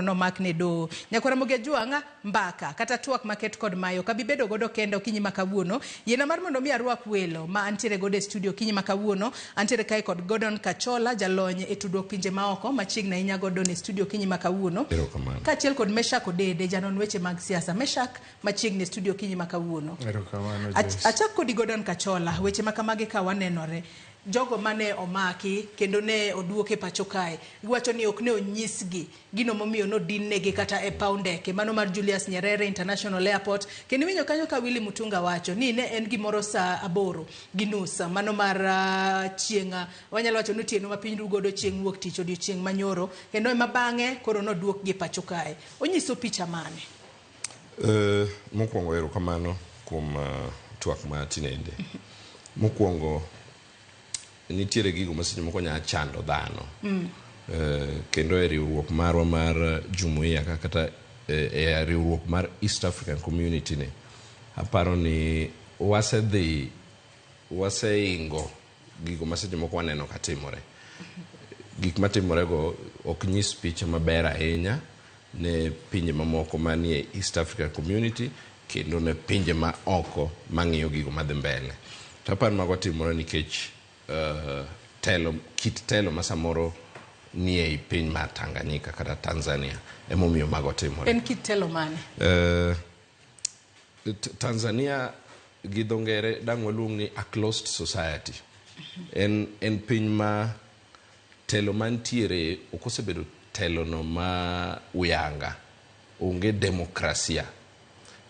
nomak ne doho. Nyakwar Ramogi Ajwang', mbaka kata twak maket kod mayo ok abi bedo godo kenda okinyi ma kawuono. Yiena mar mondo mi arwak welo ma antiere godo e studio okinyi ma kawuono. Antiere kae kod Gordon Kachola, jalony e tudruok pinje maoko machiegni ahinya Gordon e studio okinyi ma kawuono. Erokamano. Kaachiel kod Meshak Odede, janon weche mag siasa. Meshak machiegni e studio okinyi ma kawuono. Erokamano Ach- Joyce. Achak kodi Gordon Kachola, weche ma kamagi ka wanenore. Jogo ma ne omaki kendo ne oduok e pacho kae giwacho ni ok ne onyisgi gino momiyo nodinnegi kata e paw ndeke mano mar Julius Nyerere International Airport kendo iwinjo kanyo ka Willy Mutunga wacho ni ne en gimoro saa aboro gi nus mano mar chieng' wanyalo wacho ni otieno ma piny ru godo chieng' wuok tich odiochieng' manyoro kendo ema bang'e koro noduokgi e pacho kae. Onyiso picha mane? Mokuongo erokamano kuom twak ma tinende. Mokuongo nitiere gigo ma seche moko nya chando dhano. Kendo e riwruok marwa mar Jumuia ka kata e riwruok mar East African Community ni, aparo ni wasedhi, waseingo gigo ma seche moko waneno ka timore. Gik ma timorego ok nyis picha maber ahinya ne pinje mamoko manie East African Community kendo ne pinje ma oko mang'iyo gigo madhi mbele. To aparo ni mago timore nikech uh, telo, kit telo ma samoro nie i piny mar Tanganyika kata Tanzania emomiyo mago timore. En kit telo mane? Uh, Tanzania gi dho ngere dang' waluong ni a closed society. En, en piny ma telo mantiere ok osebedo telono ma uyanga. Onge demokrasia.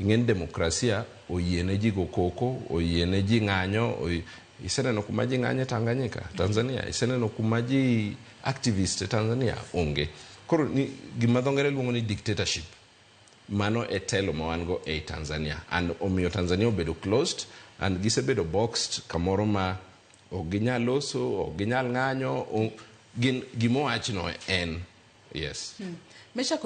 Ing'eni demokrasia oyiene ji go koko, oyiene ji ng'anyo, iseneno kuma ji ng'anye Tanganyika, Tanzania? Iseneno kuma ji activist e Tanzania? Onge. Koro ni, gima dho ngere luongo ni dictatorship. Mano e telo ma wan go ei Tanzania and omiyo Tanzania obedo closed and gisebedo boxed kamoro ma ok ginyal loso, ok ginyal ng'anyo, gin gima owachno en. Yes. Meshack